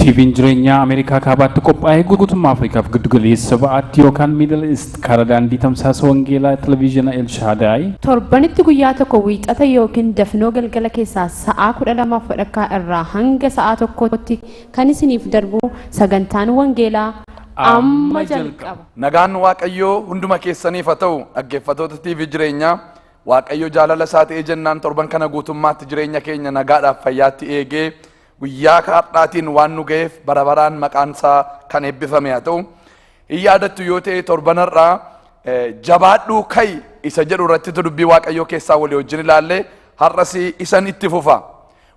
TVn jireenyaa Ameerikaa Kaabaatti qophaa'ee guutummaa Afrikaaf giddu galeessa ba'aatti yookaan Middle East karaa daandii tamsaasa wangeelaa Televiizhina El Shaadaay, Torbanitti guyyaa tokko Wiixata ykn dafnoo galgala keessaa sa'aa 12:30 irraa hanga sa'aa 1tti kan isiniif darbu sagantaan wangeelaa amma jalqaba. Nagaan Waaqayyoo hunduma keessaniif haa ta'u dhaggeeffatoota TV jireenyaa Waaqayyo jaalala isaa ta'ee jennaan torban kana guutummaatti jireenya keenya nagaadhaaf fayyaatti eegee Guyyaa hardhaatiin waan nu gaheef bara baraan maqaan isaa kan eebbifame haa ta'u. Hin yaadattu yoo ta'e torban har'aa jabaadhuu ka'i isa jedhu irratti dubbii Waaqayyoo keessaa walii wajjin ilaalle har'as isan itti fufa.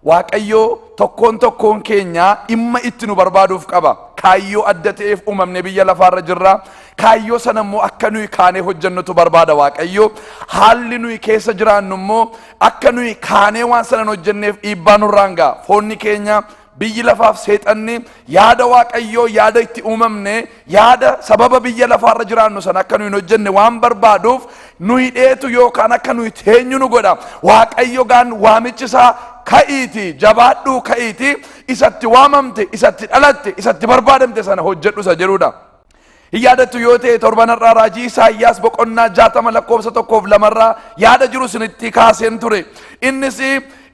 Waaqayyoo tokkoon tokkoon keenyaa dhimma itti nu barbaaduuf qaba. Kaayyoo adda ta'eef uumamne biyya lafaarra jirra. Kaayyoo sana immoo akka nuyi kaanee hojjennutu barbaada Waaqayyoo. Haalli nuyi keessa jiraannu immoo Akka nuyi kaanee waan sana hin hojjenneef dhiibbaa nurraan ga'a. Foonni keenya, biyyi lafaaf seexanni yaada Waaqayyoo, yaada itti uumamne, yaada sababa biyya lafaarra jiraannu sana akka nuyi hin hojjenne waan barbaaduuf nu hidheetu yookaan akka nuyi teenyu nu godha. Waaqayyo gaan waamichi isaa ka'iiti, jabaadhuu ka'iiti, isatti waamamte, isatti dhalatte, isatti barbaadamte sana hojjedhu isa jedhudha. Hin yaadattu yoo ta'e torban har'aa raajii Isaayyaas boqonnaa jaatama lakkoofsa tokkoof lamarraa yaada jiru isinitti kaaseen ture. Innis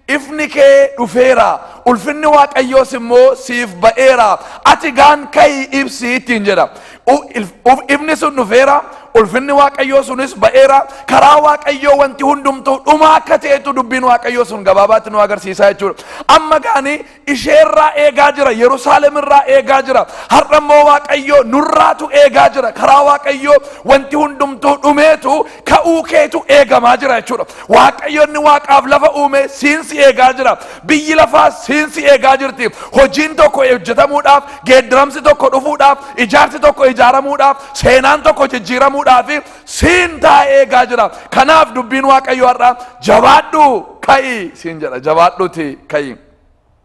ifni kee dhufeera, ulfinni Waaqayyoos immoo siif ba'eera, ati gaan ka'ii ibsi ittiin jedha. U- if- uf- Ifni sun dhufeera, ulfinni Waaqayyoo sunis ba'eera, karaa Waaqayyoo wanti hundumtuu dhumaa akka ta'etu dubbiin Waaqayyoo sun gabaabaatti nu agarsiisaa jechuudha. Amma gaanii ishee irraa eegaa jira yerusaalem irraa eegaa jira har'a immoo waaqayyoo nurraatu eegaa jira karaa waaqayyoo wanti hundumtuu dhumeetu ka'uu keetu eegamaa jira jechuudha waaqayyoonni waaqaaf lafa uume siinsi eegaa jira biyyi lafaa siinsi eegaa jirti hojiin tokko hojjetamuudhaaf geeddaramsi tokko dhufuudhaaf ijaarsi tokko ijaaramuudhaaf seenaan tokko jijjiiramuudhaaf siin taa'ee eegaa jira kanaaf dubbiin waaqayyoo har'a jabaadhu ka'i siin jedha jabaadhuuti ka'i.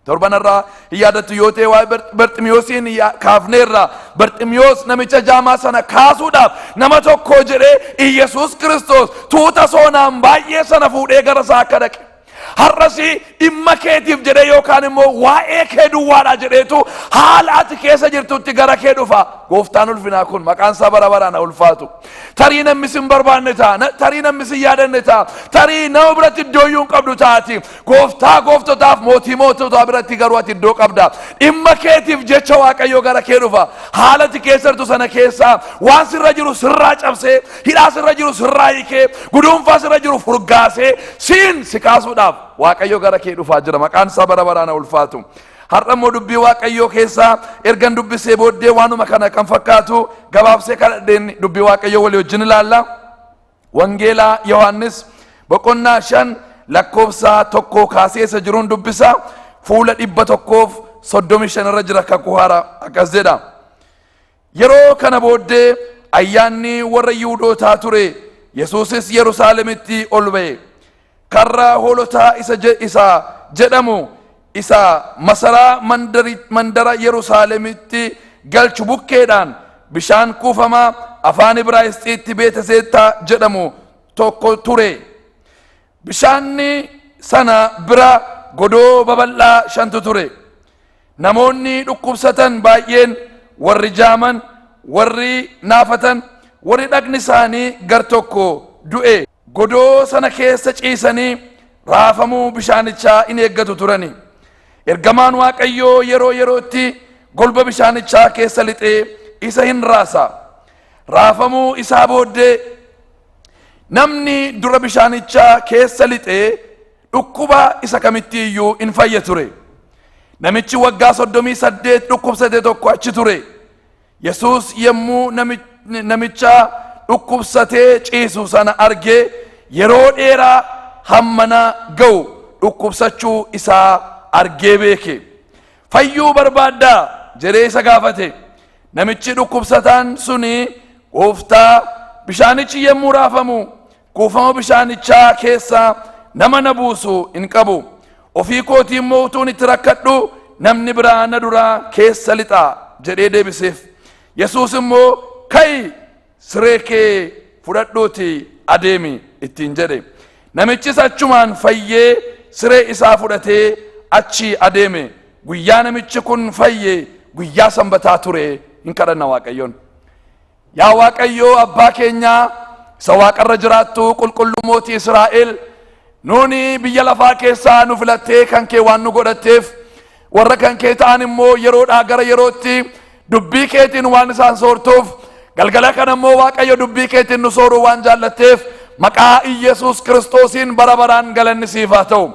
Torbanarraa hin yaadattu yoo ta'e waa'ee Bar- Barximiyoosiin yaa- kaafneerra. Barximiyoos namicha jaamaa sana kaasuudhaaf nama tokko jedhee Iyyasuus Kiristoos tuuta soonaan baay'ee sana fuudhee gara isaa akka dhaqe. Har'as dhimma keetiif jedhee yookaan immoo waa'ee kee duwwaadha jedheetu haala ati keessa jirtutti gara kee dhufa. Gooftaan ulfinaa kun maqaan isaa bara baraan haa ulfaatu. Tarii namni sin barbaanne ta'a, na- tarii namni sin yaadanne ta'a, tarii nama biratti iddoo iyyuu hin qabdu taati. Gooftaa gooftotaaf mootii moototaa biratti garuu ati iddoo qabda. Dhimma keetiif jecha Waaqayyo gara kee dhufa. Haala ati keessa jirtu sana keessaa waan sirra jiru sirraa cabsee, hidhaa sirra jiru sirraa hiikee, guduunfaa sirra jiru furgaasee siin si kaasuudhaaf Waaqayyo gara kee dhufaa jira. Maqaan isaa bara baraan haa ulfaatu. Har'a immoo dubbii Waaqayyoo keessaa ergan dubbisee booddee waanuma kana kan fakkaatu gabaabsee kadhadheen dubbii Waaqayyoo walii wajjin ilaalla. Wangeela Yohaannis boqonnaa 5 lakkoofsa tokkoo kaasee isa jiruun dubbisa fuula 135 irra jira kakuu haaraa akkas jedha. Yeroo kana booddee ayyaanni warra Yihuudootaa ture Yesuusis Yerusaalemitti ol ba'e. Karraa Hoolotaa isa je, isa jedhamu isa masaraa mandari, mandara Yerusaalemitti galchu bukkeedhaan bishaan kuufamaa afaan Ibraayisxiitti Beeteseettaa jedhamu tokko ture. Bishaanni sana bira godoo babal'aa shantu ture. Namoonni dhukkubsatan baay'een, warri jaaman, warri naafatan, warri dhagni isaanii gar tokko du'e, Godoo sana keessa ciisanii raafamuu bishaanichaa in eeggatu turani. Ergamaan Waaqayyoo yeroo yerootti golba bishaanichaa keessa lixee isa hin raasa. Raafamuu isaa booddee namni dura bishaanichaa keessa lixee dhukkuba isa kamitti iyyuu in fayya ture. Namichi waggaa soddomii saddeet dhukkubsate tokko achi ture. Yesuus yommuu namicha dhukkubsatee ciisu sana arge yeroo dheeraa hammana ga'u dhukkubsachuu isaa argee beeke. Fayyuu barbaaddaa? jedhee isa gaafate. Namichi dhukkubsataan suni gooftaa bishaanichi yommuu raafamu Kuufama bishaanichaa keessaa nama na buusu hin qabu. Ofii kootii immoo utuun itti rakkadhuu namni biraa na duraa keessa lixa jedhee deebiseef. Yesuus immoo ka'i siree kee fudhadhuuti adeemi ittiin jedhe. Namichis achumaan fayyee siree isaa fudhatee achii adeeme. Guyyaa namichi kun fayye guyyaa sanbataa ture hin kadhanna Waaqayyoon. Yaa Waaqayyoo abbaa keenyaa isa waaqarra jiraattu qulqulluu mootii Israa'el nuuni biyya lafaa keessaa nu filattee kan kee waan nu godhatteef warra kan kee ta'an immoo yeroodhaa gara yerootti dubbii keetiin waan isaan soortuuf galgala kana immoo Waaqayyo dubbii keetiin nu sooruu waan jaallatteef maqaa Iyyasuus Kiristoosiin bara baraan galanni siif haa ta'u.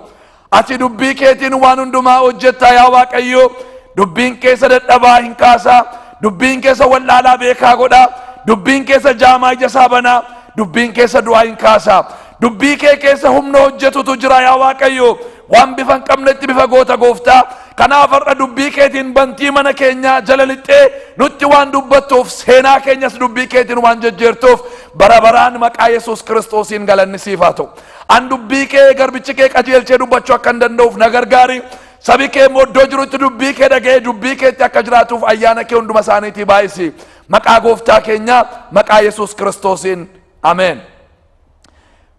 Ati dubbii keetiin waan hundumaa hojjetta yaa Waaqayyo. Dubbiin keessa dadhabaa hin kaasa. Dubbiin keessa wallaalaa beekaa godha. Dubbiin keessa jaamaa ija isaa bana. Dubbiin keessa du'aa hin kaasa. Dubbii kee keessa humna hojjetutu jira yaa Waaqayyo. Waan bifa hin qabnetti bifa goota gooftaa. Kanaaf har'a dubbii keetiin bantii mana keenyaa jala lixxee nutti waan dubbattuuf seenaa keenyas dubbii keetiin waan jejjeertuuf bara baraan maqaa Yesuus Kiristoosiin galanni siif haa ta'u. An dubbii kee garbichi kee qajeelchee dubbachuu akkan danda'uuf na gargaari. Sabi kee immoo iddoo jirutti dubbii kee dhaga'ee dubbii keetti akka jiraatuuf ayyaana kee hunduma isaaniitii baay'isi. Maqaa gooftaa keenyaa maqaa Yesuus Kiristoosiin. Ameen.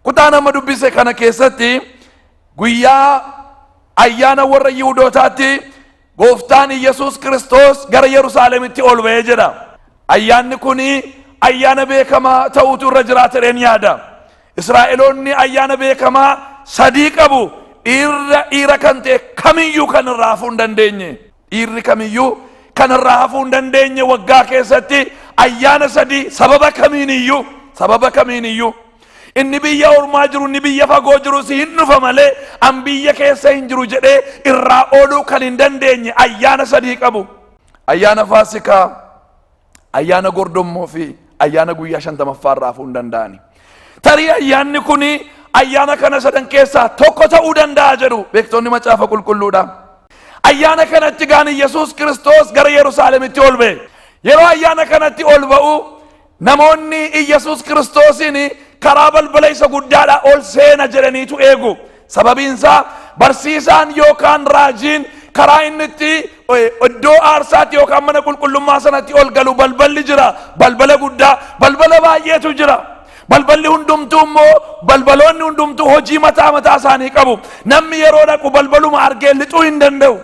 Kutaa nama dubbise kana keessatti guyyaa ayyaana warra Yihudootaatti Gooftaan Iyyasuus Kiristoos gara Yerusaalemitti ol ba'e jedha. Ayyaanni kun ayyaana beekamaa ta'uutu irra jiraata jedheen yaada. Israa'eloonni ayyaana beekamaa sadii qabu. Dhiirra dhiira kan ta'e kamiyyuu kan irraa hafuu hin dandeenye. Dhiirri kamiyyuu kan irraa hafuu hin dandeenye waggaa keessatti ayyaana sadii sababa kamiiniyyuu sababa kamiiniyyuu Inni biyya ormaa jiru, inni biyya fagoo jiru si hin dhufa malee an biyya keessa hin jiru jedhee irraa ooluu kan hin dandeenye ayyaana sadii qabu. Ayyaana Faasikaa, ayyaana gordommoo fi ayyaana guyyaa shantamaffaa irraa hafuu hin danda'ani. Tarii ayyaanni kun ayyaana kana sadan keessaa tokko ta'uu danda'a jedhu beektonni macaafa qulqulluudha. Ayyaana kanatti gaan Yesuus Kiristoos gara Yerusaalemitti ol ba'e. Yeroo ayyaana kanatti ol ba'u Namoonni Iyyasuus Kiristoosiin karaa balbala isa guddaadhaa ol seena jedhaniitu eegu. Sababiin isaa barsiisaan yookaan raajiin karaa inni itti iddoo aarsaatti yookaan mana qulqullummaa sanatti ol galu balballi jira. Balbala guddaa, balbala baay'eetu jira. Balballi hundumtuu immoo balbaloonni hundumtuu hojii mataa mataa isaanii qabu. Namni yeroo dhaqu balbaluma argee lixuu hin danda'u.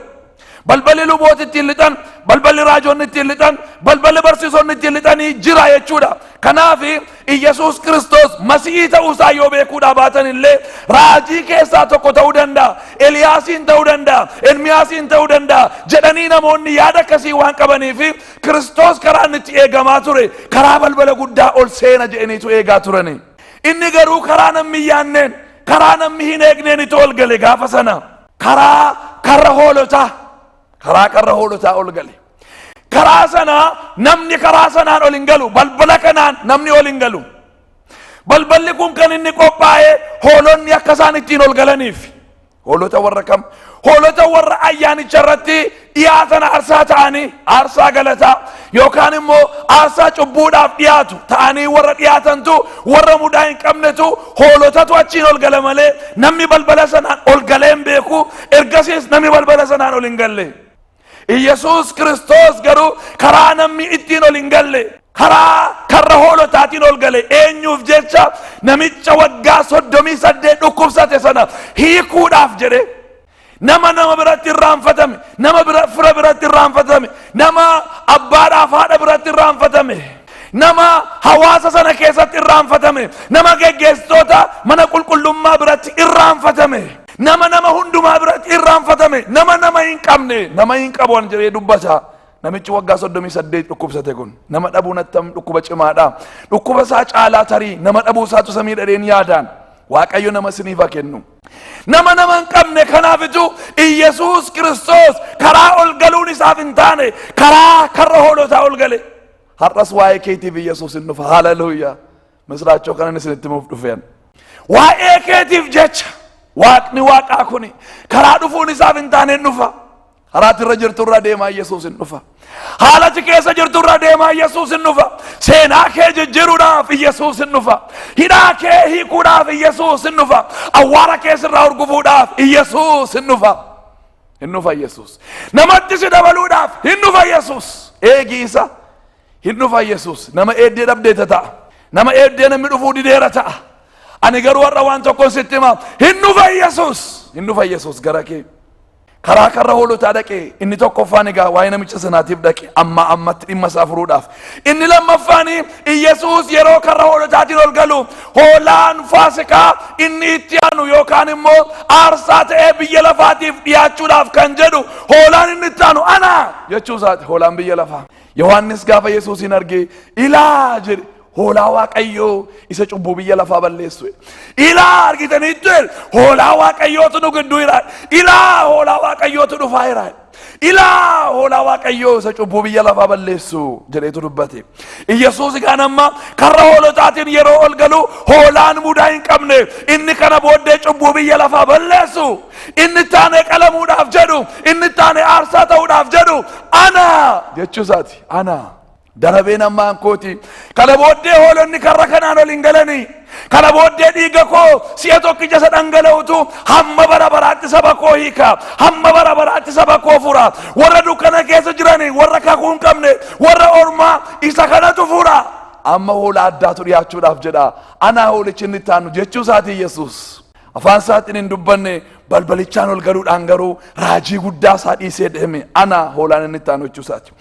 Balballi lubooti ittiin lixan, balballi raajonni ittiin lixan, balballi barsiisonni ittiin lixanii jira jechuudha. Kanaaf Iyyasuus Kiristoos masi'ii ta'uu isaa yoo beekuudhaa baatan illee raajii keessaa tokko ta'uu danda'a, Eliyaasiin ta'uu danda'a, Ermiyaasiin ta'uu danda'a jedhanii namoonni yaada akkasii waan qabaniif Kiristoos karaa inni itti eegamaa ture karaa balbala guddaa ol seena jedhaniitu eegaa turani. Inni garuu karaa namni hin yaanneen, karaa namni hin eegneen itti ol gale gaafa sana. karaa karra hoolotaa karaa karra hoolotaa ol gale karaa sanaa namni karaa sanaan ol hin galu balbala kanaan namni ol hin galu balballi kun kan inni qophaa'e hoolonni akka isaan ittiin ol galaniif hoolota warra kam hoolota warra ayyaanicha irratti dhiyaatan aarsaa ta'anii aarsaa galataa yookaan immoo aarsaa cubbuudhaaf dhiyaatu ta'anii warra dhiyaatantu warra mudaa hin qabnetu hoolotatu achiin ol gala malee namni balbala sanaan ol galee hin beeku ergasiis namni balbala sanaan ol hin galle Iyyasuus Kiristoos garuu karaa namni ittiin ol hin galle karaa karra hoolotaatiin ol gale eenyuuf jecha namicha waggaa soddomii saddeet dhukkubsate sana hiikuudhaaf jedhe Nama nama biratti irraanfatame, nama bira, fira biratti irraanfatame, nama abbaadhaaf haadha biratti irraanfatame, nama hawaasa sana keessatti irraanfatame, nama geggeessitoota mana qulqullummaa biratti irraanfatame, nama nama hundumaa biratti irraanfatame, nama nama hin qabne, nama hin qabu an jedhee dubbata. Namichi waggaa 38 dhukkubsate kun nama dhabuun attam dhukkuba cimaadha. Dhukkuba isaa caalaa tarii nama dhabuu isaatu isa miidhadheen yaadaan. Waaqayyo nama isiniif haa kennu. Nama nama hin qabne kanaafitu Iyyasuus Kiristoos karaa ol galuun isaaf hin taane karaa karra hoolotaa ol gale. Har'as waa'ee keetiif Iyyasuus hin dhufa. Haleluuyaa. Misiraachoo kanan isinitti himuuf dhufeen. Waa'ee keetiif jecha waaqni waaqaa kuni karaa dhufuun isaaf hin taane hin dhufa. Karaa ati irra jirtu irra deemaa Yesuus hin dhufa. Haala ati keessa jirtu irra deemaa Yesuus hin dhufa. Seenaa kee jijjiiruudhaaf Yesuus hin dhufa. Hidhaa kee hiikuudhaaf Yesuus hin dhufa. Awwaara kee sirraa urgufuudhaaf Yesuus hin dhufa. Hin dhufa Yesuus. Namatti si dabaluudhaaf hin dhufa Yesuus. Eegi isa hin dhufa Yesuus. Nama eeddee dhabdeeta ta'a. Nama eeddee namni dhufuu dideera ta'a. Ani garuu har'a waan tokkon sitti hima. Hin dhufa Yesuus. Hin dhufa Yesuus gara kee. Karaa karra hoolotaa dhaqe. Inni tokkoffaan egaa waa'ee namicha sanaatiif dhaqe. Ammaa ammatti dhimma isaa furuudhaaf. Inni lammaffaan Iyyasuus yeroo karra hoolotaatiin ol galu hoolaan faasikaa inni itti aanu yookaan immoo aarsaa ta'ee biyya lafaatiif dhiyaachuudhaaf kan jedhu hoolaan inni itti aanu ana jechuu isaati hoolaan biyya lafaa. Yohaannis gaafa Yesuusiin argee ilaa jedhe Hoolaa Waaqayyoo isa cubbuu biyya lafaa balleessu. Ilaa argitaniittu el hoolaa Waaqayyootu nu gidduu jira. Ilaa hoolaa Waaqayyootu dhufaa jira. Ilaa hoolaa Waaqayyoo isa cubbuu biyya lafaa balleessu jedheetu dubbate. Iyyasuus kaan amma karra hoolotaatiin yeroo ol galu hoolaan mudaa hin qabne inni kana booddee cubbuu biyya lafaa balleessu inni taane qalamuudhaaf jedhu inni taane aarsaa ta'uudhaaf jedhu ana jechuusaati ana. Darabeen ammaan kooti. Kana booddee hoolonni karra kanaan ol hin galani. Kana booddee dhiiga koo si'a tokkicha isa dhangala'utu hamma bara baraatti saba koo hiika. Hamma bara baraatti saba koo fura. Warra dukkana keessa jirani, warra kakuu hin qabne, warra ormaa isa kanatu fura. Amma hoolaa addaatu dhiyaachuudhaaf jedha. Anaa hoolichi inni itti aanu jechuu isaatii Yesuus. Afaan isaatiin hin dubbanne, balbalichaan ol galuudhaan garuu raajii guddaa isaa dhiisee deeme. Ana hoolaan inni itti aanu jechuu isaati.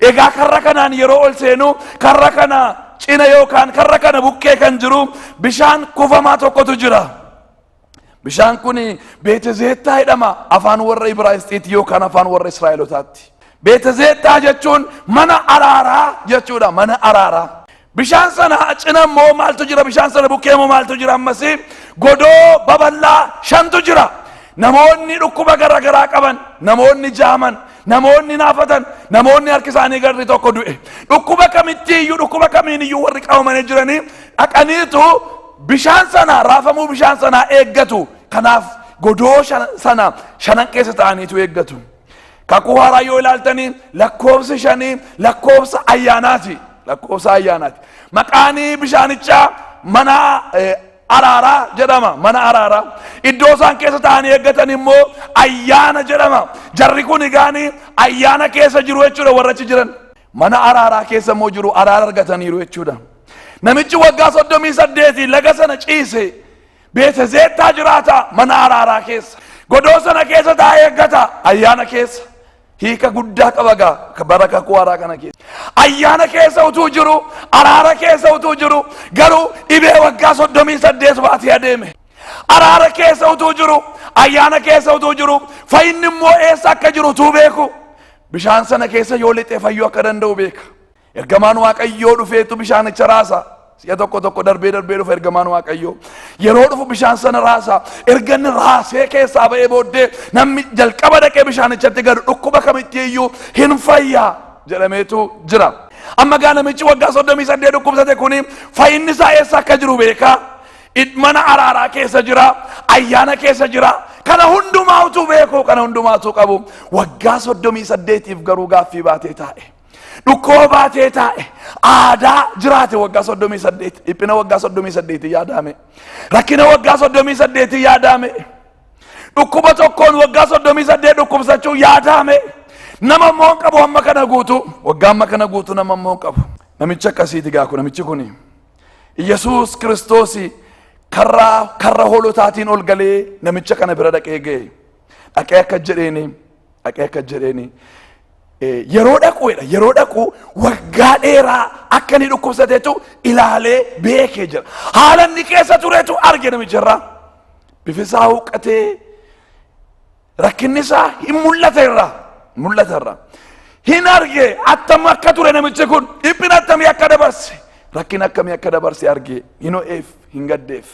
Egaa karra kanaan yeroo ol seenu karra kana cina yookaan karra kana bukkee kan jiru bishaan kufamaa tokkotu jira. Bishaan kun Beetezeettaa jedhama afaan warra Ibraayisxiiti yookaan afaan warra Israa'elotaatti. Beetezeettaa jechuun mana araaraa jechuudha mana araaraa. Bishaan sana cina immoo maaltu jira? Bishaan sana bukkee immoo maaltu jira? Ammas godoo babal'aa shantu jira. Namoonni dhukkuba gara garaa qaban, namoonni jaaman, namoonni naafatan, namoonni harki isaanii garri tokko du'e. Dhukkuba kamittii iyyuu, dhukkuba kamiin iyyuu warri qabamanii jiranii dhaqaniitu bishaan sana raafamuu bishaan sanaa eeggatu. Kanaaf godoo shan- sana shanan keessa ta'aniitu eeggatu. Kakuu haaraa yoo ilaaltanii lakkoofsi shanii lakkoofsa ayyaanaati. Lakkoofsa ayyaanaati. Maqaan bishaanichaa mana eh, araaraa jedhama. Mana araaraa. Iddoo isaan keessa taa'anii eeggatan immoo ayyaana jedhama. Jarri kun egaanii ayyaana keessa jiru jechuudha warra achi jiran. Mana araaraa keessa immoo jiru araara argataniiru jechuudha. Namichi waggaa soddomii saddeetii laga sana ciise Beeta Zeettaa jiraata, mana araaraa keessa. Godoo sana keessa taa'ee eeggata, ayyaana keessa. Hiika guddaa qaba gaa bara kakuu haaraa kana keessa. Ayyaana keessa utuu jiru, araara keessa utuu jiru, garuu dhibee waggaa soddomii saddeet baatee adeeme. Araara keessa utuu jiru, ayyaana keessa utuu jiru, fayyinni immoo eessa akka jiru utuu beeku. Bishaan sana keessa yoo lixee fayyuu akka danda'u beeka. Ergamaan Waaqayyoo dhufeetu bishaanicha raasa. Si'a tokko tokko darbee darbee dhufa ergamaan Waaqayyoo. Yeroo dhufu bishaan sana raasa. Erga inni raasee keessaa ba'ee booddee namni jalqaba dhaqee bishaanichatti gadu dhukkuba kamittii iyyuu hin fayyaa jedhameetu jira. Amma gaa namichi waggaa soddomii saddeet dhukkubsate kuni fayyinni isaa eessa akka jiru beekaa. Mana araaraa keessa jira, ayyaana keessa jira. Kana hundumaa utuu beeku, kana hundumaa utuu qabu waggaa soddomii saddeetiif garuu gaaffii baatee taa'e. Dhukkoo baatee taa'e aadaa jiraate waggaa soddomii saddeet dhiphina waggaa soddomii saddeetii yaadaame rakkina waggaa soddomii saddeetii yaadaame dhukkuba tokkoon waggaa soddomii saddeet dhukkubsachuu yaadaame nama immoo hin qabu amma kana guutuu waggaa amma kana guutuu nama immoo hin qabu namichi akkasiiti gaaku namichi kuni Yesuus Kiristoos karra karra hoolotaatiin ol galee namicha kana bira dhaqee ga'e. Dhaqee akka jedheeni dhaqee akka jedheeni yeroo dhaqu jedha yeroo dhaqu waggaa dheeraa akka inni dhukkubsatetu ilaalee beekee jira haala inni keessa turetu arge namicharraa bifisaa huqqatee rakkinni isaa hin mul'ata irraa mul'ata irraa hin arge attam akka ture namichi kun dhiphina attamii akka dabarse rakkin akkamii akka dabarse arge hin ho'eef hin gaddeef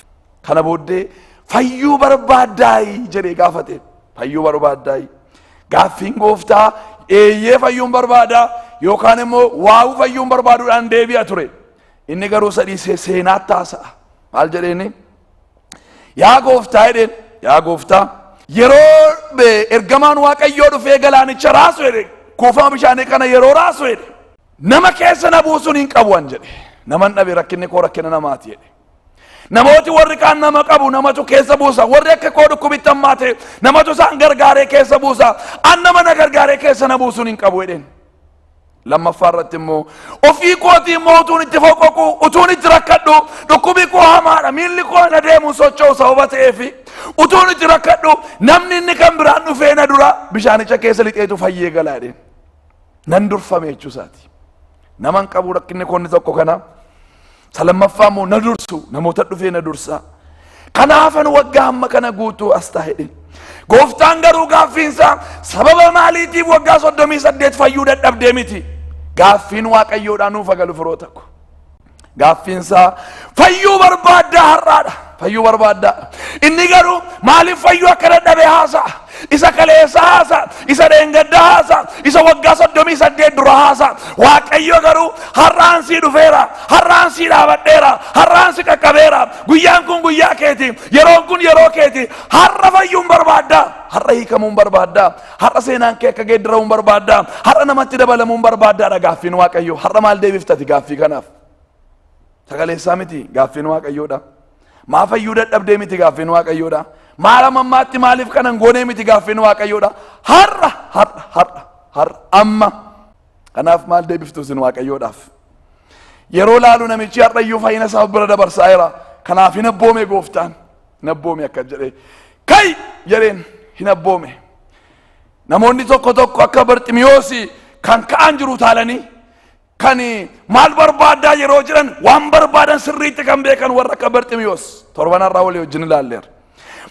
Kana booddee fayyuu barbaaddaayi jedhee gaafate. Fayyuu barbaaddaayi. Gaaffiin gooftaa eeyyee fayyuun barbaadaa yookaan immoo waawuu fayyuun barbaaduudhaan deebi'a ture. Inni garuu sadhiisee seenaatti haasa'a. Maal jedheeni? Yaa gooftaa jedheen yaa gooftaa yeroo be- ergamaan waaqayyoo dhufee galaanicha raasu jedhe kuufama bishaanii kana yeroo raasu jedhe nama keessa na buusuun hin qabu an jedhe naman dhabe rakkinni koo rakkina namaati jedhe Namooti warri kaan nama qabu namatu keessa buusa. Warri akka koo dhukkubitti hammaate namatu isaan gargaaree keessa buusa. An nama na gargaaree keessa na buusuun hin qabu jedheen. Lammaffaa irratti immoo ofii kootii immoo utuun itti foqoqu utuun itti rakkadhu dhukkubi koo hamaadha miilli koo na deemu socho'u sababa ta'eefi utuun itti rakkadhu namni inni kan biraan dhufee na dura bishaanicha keessa lixeetu fayyee galaa jedheen. nan durfame jechuu isaati. Naman qabu rakkinni koonni tokko kana. Isa lammaffaa immoo na dursu namoota dhufee na dursa. Kanaafan waggaa hamma kana guutuu as taa'edhe. Gooftaan garuu gaaffiinsaa sababa maaliitiif waggaa soddomii saddeet fayyuu dadhabdee miti. Gaaffiin waaqayyoodhaa nuuf agalu firoota ko. Gaaffiinsaa fayyuu barbaaddaa har'aadha. Fayyuu barbaaddaa. Inni garuu maaliif fayyuu akka dadhabe haasa'a. Isa kaleessa haasa'a. Isa dheengadda haasa'a. Isa waggaa soddomii saddeet dura haasa'a. Waaqayyo garuu har'aan sii dhufeera. Har'aan sii dhaabadheera. Har'aan si qaqqabeera. Guyyaan kun guyyaa keeti. Yeroon kun yeroo keeti. Har'a fayyuun barbaaddaa. Har'a hiikamuun barbaaddaa. Har'a seenaan kee akka geeddaramu barbaaddaa? Har'a namatti dabalamuun barbaaddaadha gaaffiin Waaqayyoo. Har'a maal deebiftati gaaffii kanaaf? Sagaleessaa miti gaaffiin Waaqayyoodha. Maa fayyuu dadhabdee miti gaaffiin Waaqayyoodha. Maal ammammaatti maaliif kanan goonee miti gaaffiin Waaqayyoodha. Har'a har'a har'a har'a amma. Kanaaf maal deebiftu isin Waaqayyoodhaaf? Yeroo laalu namichi har'a iyyuu fayyina isaa bira dabarsaa jira. Kanaaf hin abboome gooftaan. Hin abboome akka jedhee. Ka'i! jedheen, hin abboome. Namoonni tokko tokko akka Barximiyoosi kan ka'an jiru utaalanii kan maal barbaaddaa yeroo jedhan waan barbaadan sirriitti kan beekan warra akka Barximiyoos torban har'aa walii wajjin ilaalleera.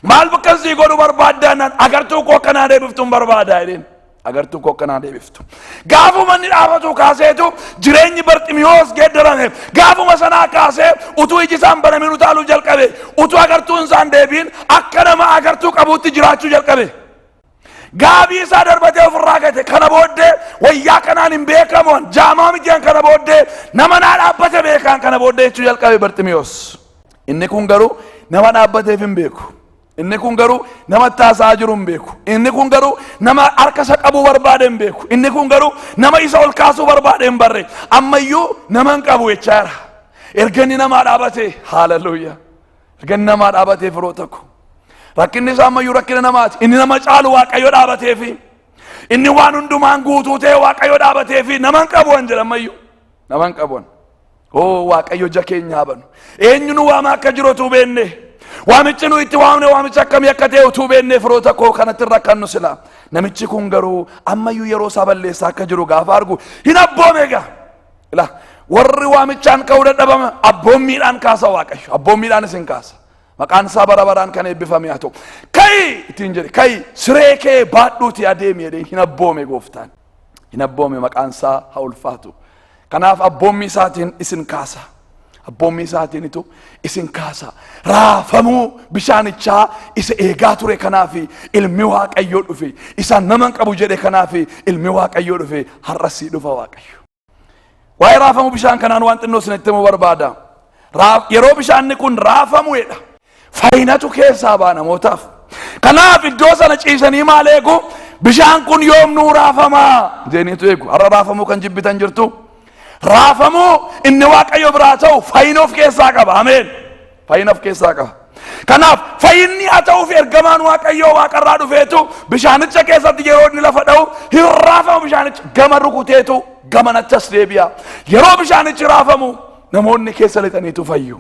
Maal bakkan sii godhu barbaaddaa naan agartuu koo akka naa deebiftuun barbaadaa jedheen. agartuu koo akkanaa deebiftu. Gaafuma inni dhaabatu kaaseetu jireenyi Barximiyoos geeddarame. Gaafuma sanaa kaasee utuu iji isaan banamin utaaluu jalqabe. Utuu agartuun isaan deebiin akka nama agartuu qabuutti jiraachuu jalqabe. Gaabii isaa darbatee ofirraa gate kana booddee wayyaa kanaan hin beekamu jaamaa mitiin kana booddee nama naa dhaabbate beekaan kana booddee jechuu jalqabe Barximiyoos. Inni kun garuu nama dhaabbateef hin beeku. Inni kun garuu nama itti haasa'aa jiru hin beeku. Inni kun garuu nama harka isa qabuu barbaade hin beeku. Inni kun garuu nama isa ol kaasuu barbaade hin barre. Ammayyuu nama hin qabu jechaa jira. Erga inni namaa dhaabatee haaleluyyaa. Erga inni namaa dhaabatee firoota koo. Rakkinni isaa ammayyuu rakkina namaati. Inni nama caalu waaqayyo dhaabateefi. Inni waan hundumaan guutuu ta'e waaqayyo dhaabateefi nama hin qabu waan jedha ammayyuu. naman qabon oo waaqayyo ija keenya habanu eenyu nu waama akka jiru utuu beenne waamichi nu itti waamne waamichi akkamii akka ta'e utuu beenne firoota koo kanatti irra kan nu sila namichi kun garuu ammayyuu yeroo isaa balleessaa akka jiru gaafa argu hin abboome egaa ila warri waamichaan ka'uu dadhabama abboommiidhaan kaasa waaqayyo abboommiidhaan isin kaasa maqaan isaa bara baraan kan eebbifame haa ta'u ka'i ittiin jedhe ka'i siree kee baadhuuti adeemi jedhee hin abboome gooftaan hin abboome maqaan isaa ha ulfaatu kanaaf abboommii isaatiin isin kaasa abboommii isaatiinitu isin kaasa raafamuu bishaanichaa isa eegaa ture kanaaf ilmi waaqayyoo dhufe isa naman qabu jedhe kanaaf ilmi waaqayyoo dhufe har'as sii dhufa waaqayyo Waa'ee raafamuu bishaan kanaan waan xinnoo isin itti himuu barbaada. Raa- Yeroo bishaanni kun raafamu jedha. Fayyinatu keessaa ba'a namootaaf. Kanaaf iddoo sana ciisanii maal eegu? Bishaan kun yoom nuu raafama? Jeeniitu eegu. Har'a raafamuu kan jibbitan jirtu. Raafamuu inni waaqayyo biraa ta'u fayyina of keessaa qaba. Ameen. Fayyina of keessaa qaba. Kanaaf fayyinni haa ta'uuf ergamaan Waaqayyoo waaqarraa dhufeetu bishaanicha keessatti yeroo inni lafa dha'u hin raafamu bishaanicha gama rukuteetu gamanachas deebi'a. Yeroo bishaanichi raafamu namoonni keessa lixaniitu fayyu.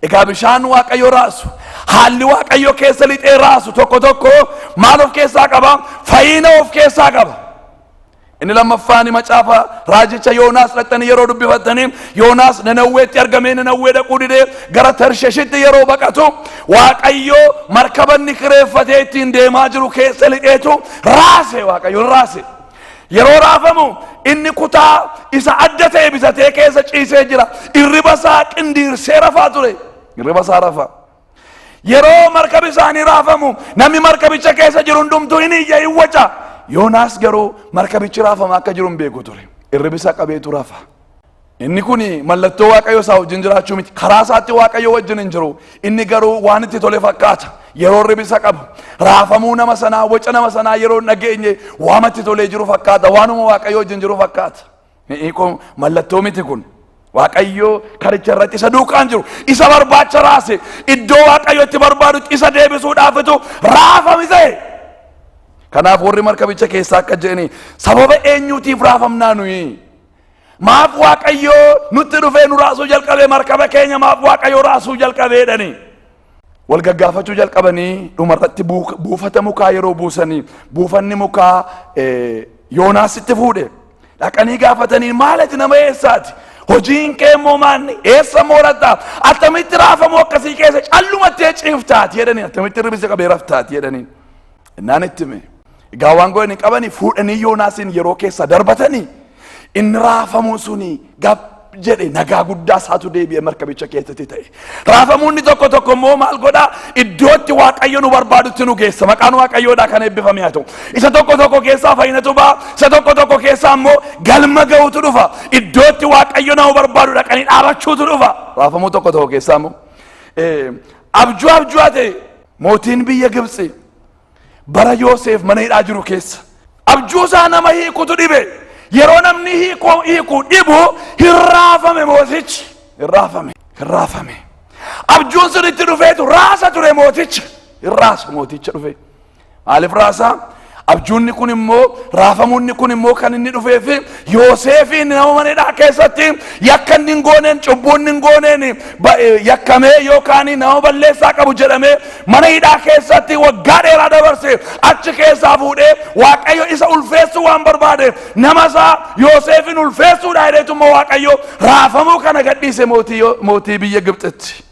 Egaa bishaan Waaqayyo raasu haalli Waaqayyo keessa lixee raasu tokko tokko maal of keessaa qaba? Fayyina of keessaa qaba. Inni lammaffaani macaafa raajicha Yoonaas dhaqxanii yeroo dubbifattanii Yoonaas Nanawweetti argamee Nanawwee dhaquu didee gara Tarsheshitti yeroo baqatu Waaqayyoo markabanni kireeffatee ittiin deemaa jiru keessa lixeetu raase Waaqayyoon raase. Yeroo raafamu inni kutaa isa adda ta'e bitatee keessa ciisee jira. Irriba isaa qindiirsee rafaa ture. Irriba isaa rafaa. Yeroo markabi isaanii raafamu namni markabicha keessa jiru hundumtuu hin iyya hin waca. Yoonaas garuu markabichi raafamaa akka jiru hin beeku ture. Irribisa qabeetu rafa. Inni kun mallattoo Waaqayyo isaa wajjin jiraachuu miti. Karaa isaatti Waaqayyo wajjin hin jiru. Inni garuu waan itti tole fakkaata. Yeroo irribisa qabu. Raafamuu nama sanaa, waca nama sanaa yeroo hin dhageenye waama itti tolee jiru fakkaata. Waanuma Waaqayyo wajjin jiru fakkaata. Hiikoo mallattoo miti kun. Waaqayyo karicha irratti isa duukaan jiru isa barbaacha raase iddoo waaqayyo itti barbaadutti isa deebisuudhaafitu raafame ta'e. Kanaaf warri markabicha keessaa akka jedhani sababa eenyuutiif raafamnaa nuyi? Maaf waaqayyo nutti dhufee nu raasuu jalqabee markaba keenya maaf waaqayyo raasuu jalqabeedhani? wal gaggaafachuu jalqabanii dhumarratti buuk- buufata mukaa yeroo buusanii buufanni mukaa eh, yoonaasitti fuudhe dhaqanii gaafatanii maalati nama eessaati hojiin kee immoo maanni eessa mooratta attamitti raafamu akkasii keessa callumatti ciiftaati jedhanii attamitti ribisa qabee raftaati jedhanii Innaan itti hime. Egaa waan godhan hin qabani fuudhanii Yoonaasiin yeroo keessa darbatanii inni raafamuun suni gab jedhe nagaa guddaa isaatu deebi'e markabicha keessatti ta'e. Raafamuun inni tokko tokko immoo maal godha iddootti waaqayyo nu barbaadutti nu geessa maqaan waaqayyoodhaa kan eebbifame haa ta'u. Isa tokko tokko keessaa fayyinatu ba'a isa tokko tokko keessaa immoo galma ga'uutu dhufa iddootti waaqayyo nama barbaadu dhaqanii dhaabachuutu dhufa. Raafamuu tokko tokko keessaa immoo eh, abjuu abjuu haa ta'e Mootiin biyya Gibtsi bara Yooseef mana hidhaa jiru keessa abjuu isaa nama hiikutu dhibe. Yeroo namni hiikuu hiiku dhibu hin raafame mootichi. Hin raafame. Hin raafame. Abjuun sun itti dhufeetu raasa ture mooticha. Hin raasa mooticha dhufee. Maaliif raasaa? Abjuunni kun immoo raafamuunni kun immoo kan inni dhufeef Yooseefiin nama mana hidhaa keessatti yakka inni hin gooneen cubbuu inni hin gooneen ba- eh, yakkamee yookaan nama balleessaa qabu jedhamee mana hidhaa keessatti waggaa dheeraa dabarse achi keessaa fuudhee Waaqayyo isa ulfeessuu waan barbaadeef nama isaa Yooseefiin ulfeessuudha jedheetu immoo Waaqayyo raafamuu kana gadhiise mootii Yo- mootii biyya Gibxitti.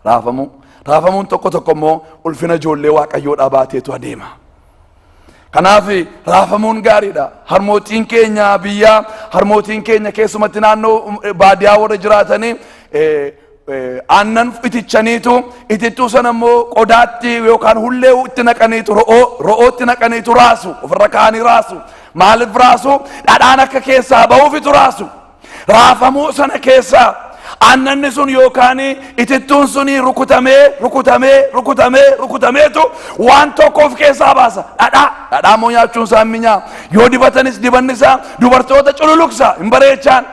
Raafamuu. Raafamuun tokko tokko immoo ulfina ijoollee waaqayyoodhaa baateetu adeema. Kanaaf raafamuun gaariidha. Harmootiin keenya biyyaa harmootiin keenya keessumatti naannoo baadiyaa warra jiraatanii aannan itichaniitu itittuu sana immoo qodaatti yookaan hullee itti naqaniitu ro'oo ro'ootti naqaniitu raasu ofirra kaanii raasu maaliif raasu dhadhaan akka keessaa ba'uufitu raasu Raafamuu sana keessaa aannanni sun yookaan itittuun sun rukutamee rukutamee rukutamee rukutameetu waan tokko of keessaa baasa dhadhaa dhadhaa immoo nyaachuun isaa hin minyaa yoo dibatanis dibanni isaa dubartoota cululuksa hin bareechaan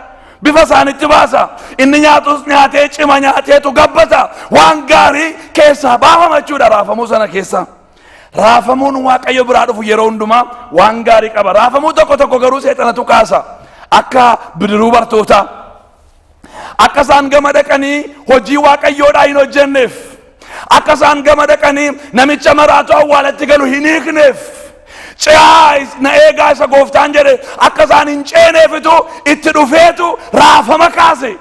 bifa isaanitti baasa inni nyaatus nyaatee cima nyaateetu gabbata waan gaarii keessaa baafama jechuudha raafamuu sana keessaa. Raafamuun Waaqayyo biraa dhufu yeroo hundumaa waan gaarii qaba. Raafamuu tokko tokko garuu seexanatu kaasa. Akka bidiruu bartootaa. Akka isaan gama dhaqanii hojii Waaqayyoodhaa hin hojjenneef. Akka isaan gama dhaqanii namicha maraatu awwaalatti galu hin hiikneef. Ce'aa is- na eegaa isa gooftaan jedhe akka isaan hin ceeneefitu itti dhufeetu raafama kaase.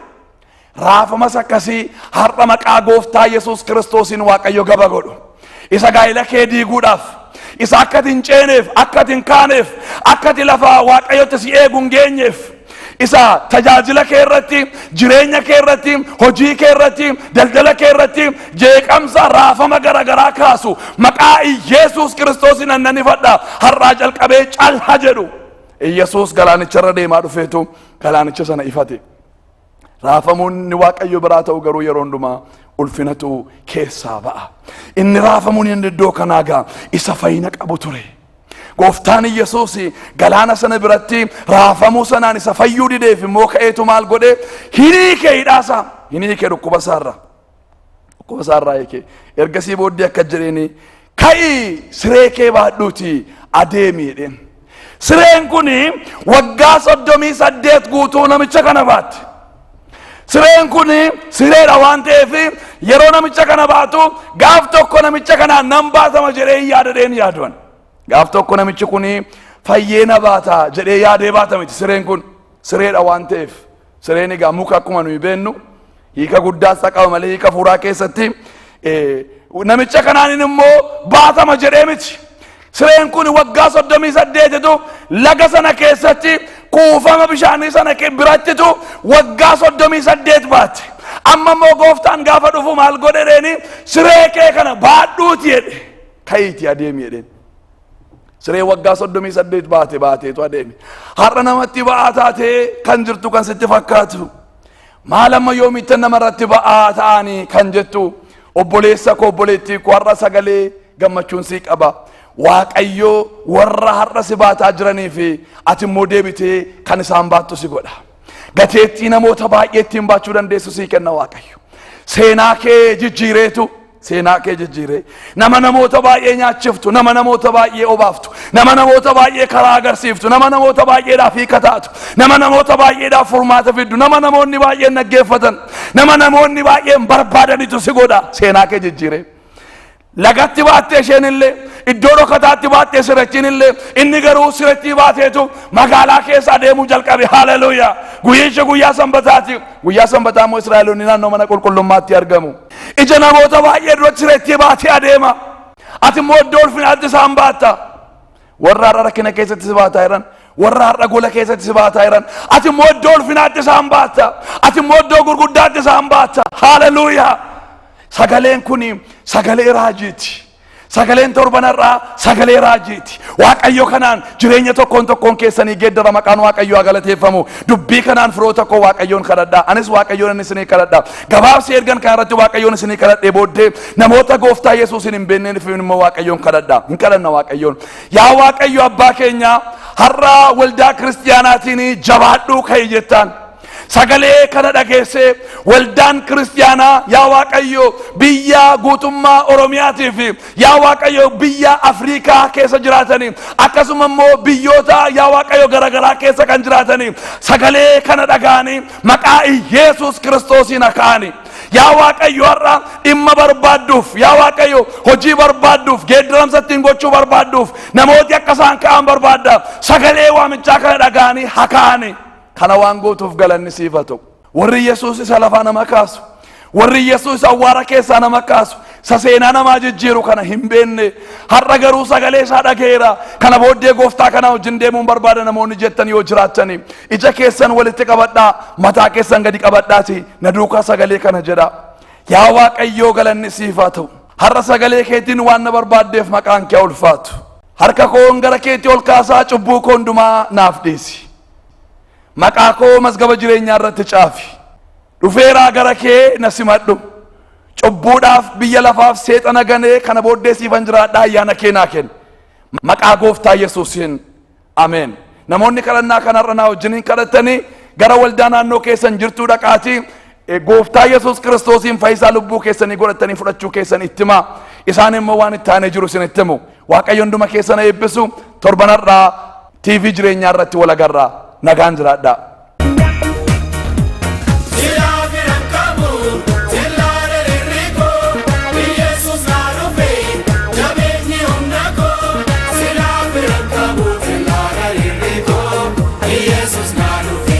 Raafamas akkasii har'a maqaa gooftaa Yesuus Kiristoosiin Waaqayyo gaba godhu. Isa gaa'ila kee diiguudhaaf, isa akka ati hin ceeneef, akka ati hin kaaneef, akka ati lafa Waaqayyotti si eegu hin geenyeef, isa tajaajila kee irratti, jireenya kee irratti, hojii kee irratti, daldala kee irratti jeeqamsa raafama garaagaraa kaasu maqaa Yesuus Kiristoosiin annan ifadha har'aa jalqabee calha jedhu. Yesuus galaanicharra deemaa dhufeetu galaanicha sana ifate. Raafamuun inni Waaqayyo biraa ta'u garuu yeroo hundumaa ulfinatu keessaa ba'a. Inni raafamuun inni iddoo kanaa gaa isa fayyina qabu ture. Gooftaan Yesuus galaana sana biratti raafamuu sanaan isa fayyuu dideef immoo ka'eetu maal godhe hin hiike hidhaasaa hin hiike dhukkuba isaarra. Qoosaa irraa hiike. Ergasii booddee akka jedheeni ka'ii siree kee baadhuuti adeemi jedheen. Sireen kun waggaa soddomii saddeet guutuu namicha kana baatti. Sireen kun sireedha waan ta'eef yeroo namicha kana baatu gaaf tokko namicha kana nan baatama jedhee yaadadheen yaaduwan. Gaaf tokko namichi kun fayyee na baata jedhee yaadee baata miti sireen kun sireedha waan ta'eef. Sireen egaa muka akkuma nuyi beennu hiika guddaa isaa qaba malee hiika fuuraa keessatti eh, namicha kanaanin immoo baatama jedhee miti. Sireen kun waggaa soddomii saddeetitu laga sana keessatti kuufama bishaanii sana ke- birattitu waggaa soddomii saddeet baate. Amma immoo gooftaan gaafa dhufu maal godhe jedheeni siree kee kana baadhuuti jedhe. Ka'iiti adeemi jedheen. Siree waggaa soddomii saddeet baate baateetu adeeme. Har'a namatti ba'aa taatee kan jirtu kan sitti fakkaatu. Maal amma yoomittan namarratti ba'aa ta'anii kan jettu obboleessa koo obboleettii koo har'a sagalee gammachuun sii qaba. Waaqayyoo warra har'a si baataa jiranii fi ati immoo deebitee kan isaan baattu si godha. Gateettii namoota baay'ee ittiin baachuu dandeessu sii kenna Waaqayyo. Seenaa kee jijjiireetu seenaa kee jijjiiree nama namoota baay'ee nyaachiftu nama namoota baay'ee obaaftu nama namoota baay'ee karaa agarsiiftu nama namoota baay'eedhaaf hiika taatu nama namoota baay'eedhaaf furmaata fiddu nama namoonni baay'een dhaggeeffatan nama namoonni baay'een barbaadanitu si godha seenaa kee jijjiiree lagatti baattee isheen illee iddoo dhokataatti baattee sirachiin illee inni garuu sirachii baateetu magaalaa keessa adeemuu jalqabe haleluuyaa guyyichi guyyaa sanbataati guyyaa sanbataa immoo israa'eloonni naannoo mana qulqullummaatti argamu Ija namoota baay'ee duratti reettee baatee adeema. Ati immoo iddoo ulfinaatti isaan baatta. Warra har'a rakkina keessatti si baataa jiran, warra har'a gola keessatti si baataa jiran, ati immoo iddoo ulfinaatti isaan baatta. Ati immoo iddoo gurguddaatti isaan baatta. Haaleluuyaa! Sagaleen kun sagalee raajiiti. Sagaleen torban har'aa sagalee raajiiti. Waaqayyo kanaan jireenya tokkoon tokkoon keessanii geeddara maqaan Waaqayyo haa galateeffamu. Dubbii kanaan firoota koo Waaqayyoon kadhadha. Anis Waaqayyoon inni isinii kadhadha. Gabaabsi ergan kana irratti Waaqayyoon isinii kadhadhee booddee namoota gooftaa Yesuusiin hin beekneen fi immoo Waaqayyoon kadhadha. Hin kadhanna Waaqayyoon. Yaa Waaqayyo abbaa keenya har'aa waldaa kiristiyaanaatiin jabaadhuu ka'e jettaan. Sagalee kana dhageessee waldaan kiristiyaanaa yaa Waaqayyo biyya guutummaa Oromiyaatii fi yaa Waaqayyo biyya Afriikaa keessa jiraatanii akkasuma immoo biyyoota yaa Waaqayyo garaagaraa keessa kan jiraatanii sagalee kana dhaga'anii maqaa Iyeesuus kiristoosiin aka'anii yaa Waaqayyo har'a dhimma barbaadduuf yaa Waaqayyo hojii barbaadduuf geeddaramsa ittiin gochuu barbaadduuf namooti akka isaan ka'an barbaadda sagalee waamichaa kana dhaga'anii haka'anii. Kana waan gootuuf galanni siif haa ta'u. Warri Yesuus isa lafaa nama kaasu, warri Yesuus isa awwaara keessaa nama kaasu, isa seenaa namaa jijjiiru kana hin beekne, har'a garuu sagalee isaa dhaga'eera. Kana booddee gooftaa kanaa wajjin deemuun barbaada namoonni jettan yoo jiraattan, ija keessan walitti qabadhaa, mataa keessan gadi qabadhaati, na duukaa sagalee kana jedhaa. Yaa Waaqayyoo galanni siif haa ta'u. Har'a sagalee keetiin waan na barbaaddeef maqaan kee haa ulfaatu. Harka koon gara keetti ol kaasaa cubbuu koo hundumaa naaf dhiisi. Maqaa koo mazgaba jireenyaa irratti caafi. Dhufeeraa gara kee na simadhu. Cubbuudhaaf biyya lafaaf seexana ganee kana booddee siifan jiraadhaa ayyaana kee naa kenni. Maqaa gooftaa Yesuusiin Ameen. Namoonni kadhannaa kana irra naa wajjiniin kadhattanii gara waldaa naannoo keessan jirtuu dhaqaatii E, Gooftaa Yesuus Kiristoosiin fayyisaa lubbuu keessanii godhattanii fudhachuu keessan itti himaa. Isaan immoo waan itti aanee jiru isin itti himu. Waaqayyo hunduma keessan eebbisu. Torban har'aa TV jireenyaa irratti wal agarra. Nagaan jiraadhaa. Silaa biran qabu, silaa dheerri koo, Iyyasuus naa dhufe, jabeenyi humna koo. Silaa biran qabu, silaa dheerri koo, Iyyasuus naa dhufe,